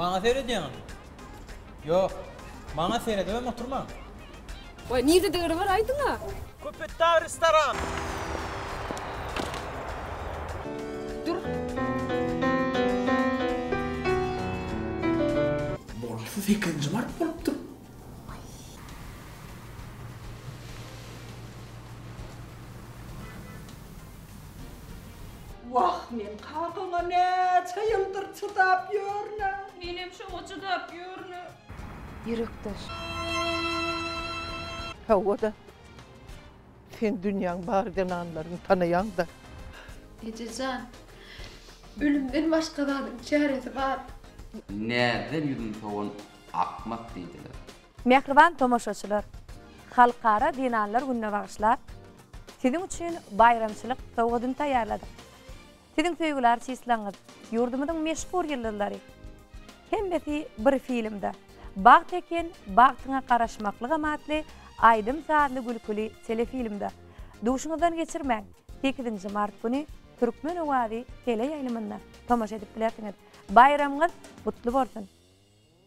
Maňa seredýäňiz? Ýok. Maňa seredibem oturmaň. Waý, nirde degre bar aýdyň-a? Köpetdag restoran. Dur. Bolsa sekizinji mart bolupdyr. Wah, men kakaňa näçe ýyldyr çydap ýörünem. Menem şoňa çydap ýörünem. Ýürekdeş. Hawa-da. Sen dünýäň bar zenanlaryny tanaýaň-da. Eje jan, ölümden başga zadyň çäresi bar. Näzden ýüzün sowan akmak diýdiler. Mähriban tomaşaçylar! Halkara zenanlar gününe bagyşlap, siziň üçin baýramçylyk sowgadyny taýýarladyk. Siziň söýgüli artistlaňyz, ýurdumyzyň meşhur ýyldyzlary. Hemmesi bir filmde, Bagt eken, bagtyňa garaşmaklygam atly aýdym-sazly gülküli telefilmde. Duşuňyzdan geçirmäň, sekizinji mart güni Türkmen owazy teleýaýlymynda tomaşa edip bilersiňiz. Baýramyňyz gutly bolsun!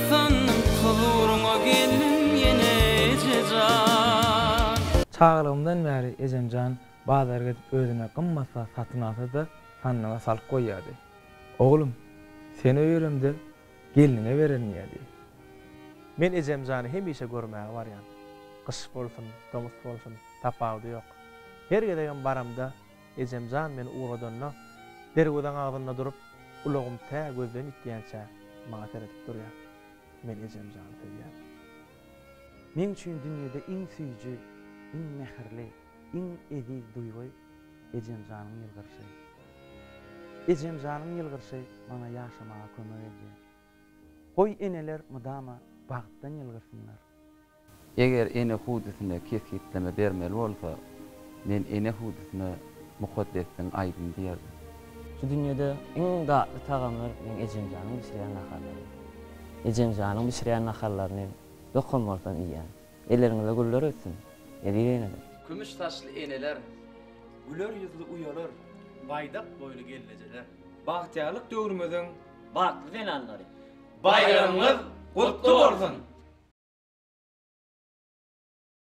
Ysgyndyň huzuryňa geldim ýene ejejan. Çagalygymdan bäri ejemjan bazara gezip özüne gymmat zat satyn alsa-da sandyga salyp goýýardy. Oglum, sen öýeremde gelniňe bererin diýýärdi. Men ejemjany hemişe görmäge barýan. Gyş bolsun, tomus bolsun, tapawudy ýok. Her gezegem baramda Ejem jan meni ugradanda, derwezaň agzynda durup, ulagym tä gözden ýitýänçä maňa seredip durýar. Men ejem jany söýýän. Meň üçin dünýede iň süýji, iň mähirli, iň eziz duýgy ejem janyň ýylgyrşy. Ejem janyň ýylgyrşy maňa ýaşamaga kömek edýär. Goý eneler mydama bagtdan ýylgyrsynlar. Eger ene hudisine kesgitleme bermeli bolsa, men ene hudisine Mukaddessiň aýdym diýerdim. Şu dünýede iň datly tagamlar meň ejemjanyň bişirýän naharlary. Ejemjanyň bişirýän naharlaryny dokan bolsam iýýän. Elleriňize güller ötsün, eziz eneler! Kümüş saçly eneler, güler ýüzli uýalar, baýdak boýly gelnejeler. Bagtyýarlyk döwrümiziň batly zenanlary, Baýramyňyz gutly bolsun!